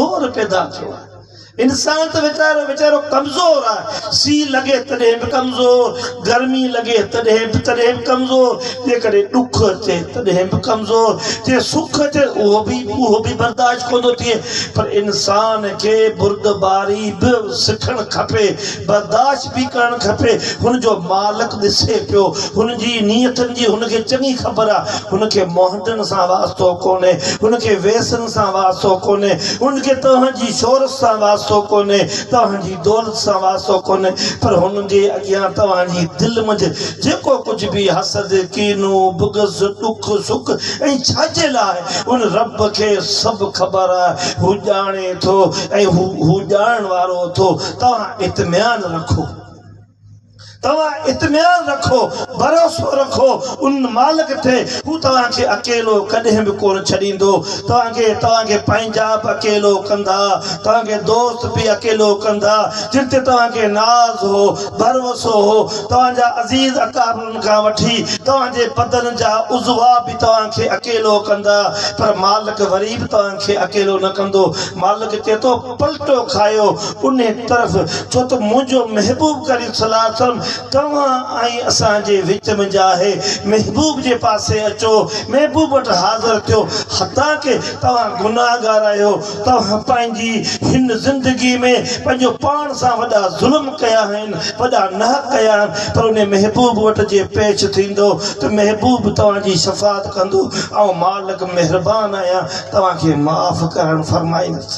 دور پيدا ٿيو آهي. انسان ته ويچارو ويچارو ڪمزور آهي. سي لڳي تڏهن به ڪمزور، گرمي لڳي تڏهن به تڏهن به ڪمزور، جيڪڏهن ڏک اچي تڏهن به ڪمزور، جي سک اچي اهو به اهو به برداشت ڪونه ٿو ٿئي. پر انسان کي بردباري به سکڻ کپي، برداشت. ڇا پئي ڪرڻ کپي، هن جو مالڪ ڏسي پيو، هن جي نيتن جي هن کي چڱي خبر آ، هن کي مهنڊن سان واسطو ڪونهي، هن کي ويسن سان واسطو ڪونهي، هن کي توهان جي شهرت سان واسطو ڪونهي، توهان جي دولت سان واسطو ڪونهي، پر هن جي اڳيان توهان جي دل منجهه جيڪو ڪجهه به حسد، ڪينو، بغض، ڏک سک ۽ ڇاجهل آهي، ان رب کي سڀ خبر آهي، هو ڄاڻي ٿو ۽ هو هو ڄاڻڻ وارو اٿو. توهان اطميان رکو، توهان اطميان رکو، ڀروسو رکو ان مالڪ تي، هو توهان کي اڪيلو ڪڏهن به ڪونه ڇڏيندو، توهان کي توهان کي پنهنجا به اڪيلو ڪندا، توهان کي دوست به اڪيلو ڪندا، جن تي توهان کي ناز هو، ڀروسو هو، توهان جا عزيز اقاربن کان وٺي توهان جي بدن جا عضوا به توهان کي اڪيلو ڪندا، پر مالڪ وري به توهان کي اڪيلو نه ڪندو، مالڪ چئي ٿو. پلٽو کايو انهي طرف ڇو ته منهنجو محبوب ڪريم صلي الله عليه وسلم توهان ۽ اسان جي وچ ۾ جا آهي محبوب جي پاسي اچو محبوب وٽ حاضر ٿيو حتاڪه توهان گناهگار آهيو توهان پنهنجي هن زندگي ۾ پنهنجو پاڻ سان وڏا ظلم ڪيا آهن وڏا ناحق ڪيا آهن پر انهي محبوب وٽ جي پيش ٿيندو ته محبوب توهان جي شفاعت ڪندو آئون مالڪ مهربان آهيان توهان کي معاف ڪرڻ فرمائيندس.